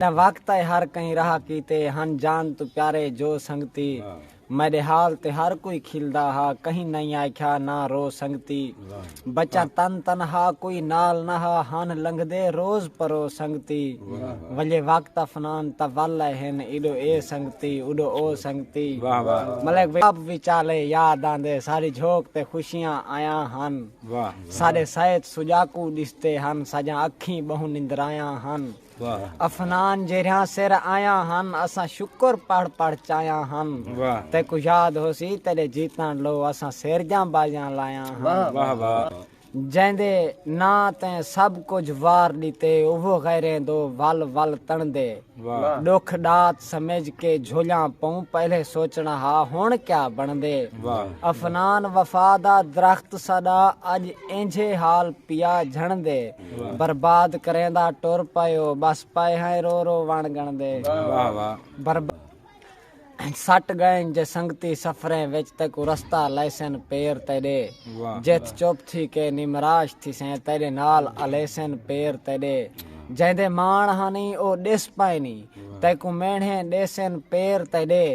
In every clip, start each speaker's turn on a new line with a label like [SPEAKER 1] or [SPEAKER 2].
[SPEAKER 1] دا وقت اے ہر کہیں راہ کیتے ہن جان توں پیارے جو سنگتی میڈے حال تے ہر کوئی کھلدا ہا کہیں نئیں آکھیا نہ رو سنگتی بچاں تن تنہا کوئی نال نہ ہا ہن لنگھدے روز پرو سنگتی ولے وقت افنان تاں ول اے ہن ایڈو اے سنگتی اوڈو او سنگتی ملک واب وچالے یاد آندے ساڈی جھوک تے خوشیاں آیاں ہن ساڈے سائت سجاکو ڈسدے ہن ساجاں اکھیں بہوں نندرایاں ہن۔ افنان جیرھیاں سر آیاں ہن اساں شکر پڑھ پڑھ چایاں ہن تیکوں یاد ہوسی تیڈے جیتن لو اساں سیرجاں بازیاں لایاں ہن جیندے نا تے سب کجھ وار ڈیتے اوہو غیریں دو ول ول تندے ڈکھ ڈات سمجھ کے جھولیاں پوں پہلے سوچنا ہا ہن کیا بندے افنان وفا دا درخت ساڈا اج اینجھے حال پیا جھندے برباد کریندا ٹر پئیو بس پئے ہیں رو رو وݨ گݨدے واہ واہ برباد سٹ گئن جے سنگتی سفریں وچ تیکوں رستہ لیسن پیر تیڈے جیتھ چپ تھی کے نمراش تھیسیں تیڈے نال الیسن پیر تیڈے جیندے ماݨ ہانی او ڈس پائنی تیکوں مینڑھیں ڈیسن پیر تیڈے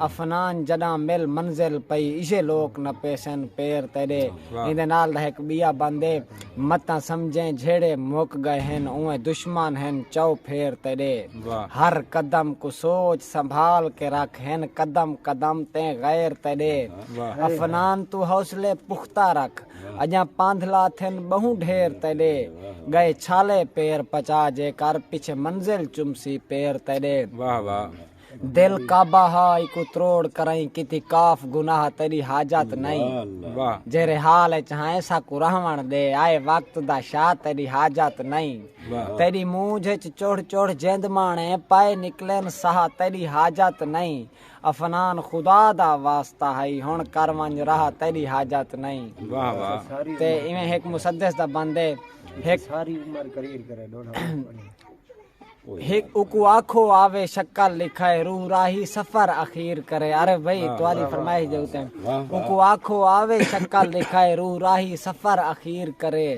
[SPEAKER 1] افنان جڈاں مل منزل پئی ایشے لوک نہ پیسن پیر تیڈے ایندے نال دا ہک بیا بندے متاں سمجھیں جھیڑے مک گئے ہن اوئیں دشمن ہن چؤ پھیر تیڈے ہر قدم کوں سوچ سنبھال کے رکھ ہن قدم قدم تے غیر تیڈے افنان توں حوصلے پختہ رکھ اجاں پاندھلا تھن بہوں ڈھیر تیڈے گئے چھالے پیر پچا جے کر پچھے منزل چمسی پیر تیڈے۔ دل کعبہ ہا ایکو تروڑ کرائیں کیتی کاف گناہ تیری حاجت نئیں جیرے حال اچ ہائیں ساکو رہون دے آئے وقت دا شاہ تیری حاجت نئیں تیری مونجھ اچ چڑھ چڑھ جند مانے پئے نکلن ساہ تیری حاجت نئیں افنان خدا دا واسطہ ہئی ہن کر ونج راہ تیری حاجت نئیں تے ایویں ہک مسدس دا بند ہے ہک ہک اکوں آکھو آوے شکل لکھائے روح راہی سفر اخیر کرے عرب بھئی تہاڈی فرمائش دے اتے اکوں آکھو آوے شکل لکھائے روح راہی سفر اخیر کرے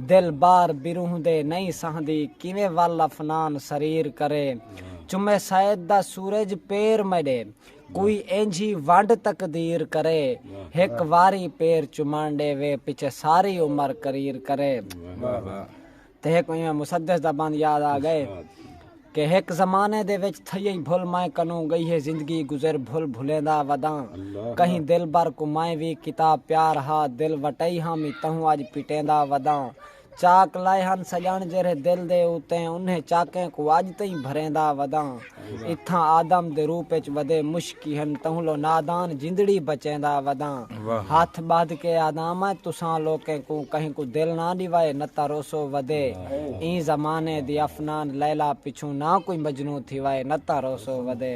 [SPEAKER 1] دل بار بروح دے نئیں سہندی کیویں ول افنان سریر کرے چمے سید دا سورج پیر میڈے کوئی اینجھی ونڈ تقدیر کرے ہک واری پیر چمن ڈیوے پچھے ساری عمر کریر کرے۔ تے ہک ایویں مسدس دا بند یاد آ گئے کہ ہک زمانے دے وچ تھئیئیں بھل مائیں کنوں گئی ہے زندگی گزر بھل بھلیندا وداں کہیں دلبر کوں مائیں وی کیتا پیار ہا دل وٹئی ہاں می تہوں اج پٹیندا وداں چاک لائے ہن سڄݨ جیرھے دل دے اتے انھیں چاکیں کوں اج تئیں بھریندا وداں۔ اتھاں آدم دے روپ اچ ودے مشکی ہن تہوں لو نادان جندڑی بچیندا وداں ہتھ ٻدھ کے آداں میں تساں لوکیں کوں کہیں کوں دل نہ ݙیوائے نہ تروسو ودے ایں زمانے دی افنان لیلی پچھوں نہ کوئی مجنوں تھیوائے نہ تروسو ودے۔